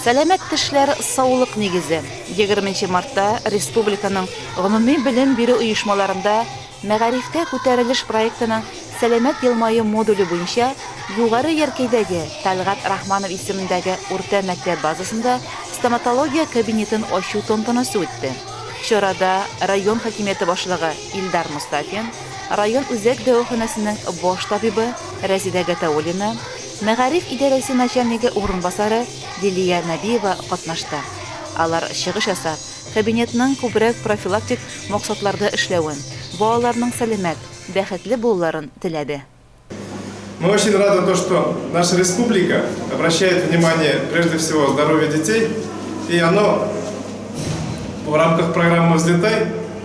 Сәламәт тешләр, саулык нигезе. 20 нче мартта республиканың гомуми белем бирү оешмаларында Мәгарифкә күтәрелеш проектының Сәламәт елмаю модуле буенча Югары Яркәйдәге Тәлгать Рахманов исемендәге урта мәктәп базасында стоматология кабинетын ачу тантанасы үтте. Чарада район хакимияте башлыгы Илдар Мостафин, район үзәк дәваханәсенең баш табибы, Рәзидә Гатауллина, мәгариф идарәсе начальнигы урынбасары Лилия Нәбиева катнашты. Алар чыгыш ясап, кабинетның күбрәк профилактик максатларда эшләвен, балаларның сәламәт, бәхетле булуларын теләде. Мы очень рады то, что наша республика обращает внимание прежде всего здоровье детей и оно в рамках программы взлетай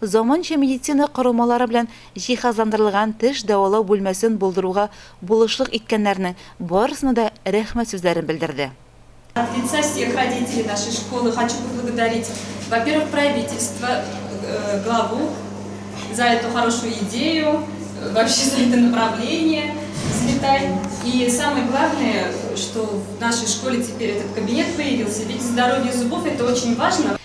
Заманча медицина корылмалары белән җиһазландырылган теш дәвалау бүлмәсен булдыруга булышлык иткәннәрнең барысына да рәхмәт сүзләрен белдерде. От лица всех родителей нашей школы хочу поблагодарить, во-первых, правительство, главу за эту хорошую идею, вообще за это направление Взлетай. И самое главное, что в нашей школе теперь этот кабинет появился, ведь здоровье зубов это очень важно.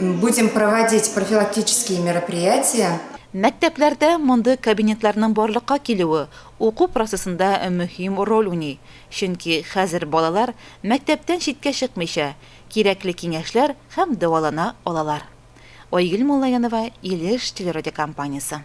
Будем проводить профилактические мероприятия. Мәктәпләрдә мондый кабинетларның барлыкка килүе уку процессында мөһим роль уйный, чөнки хәзер балалар мәктәптән читкә чыкмыйча, кирәкле киңәшләр һәм дәвалана алалар. Айгөл Муллаянова, Илеш телерадиокомпаниясе.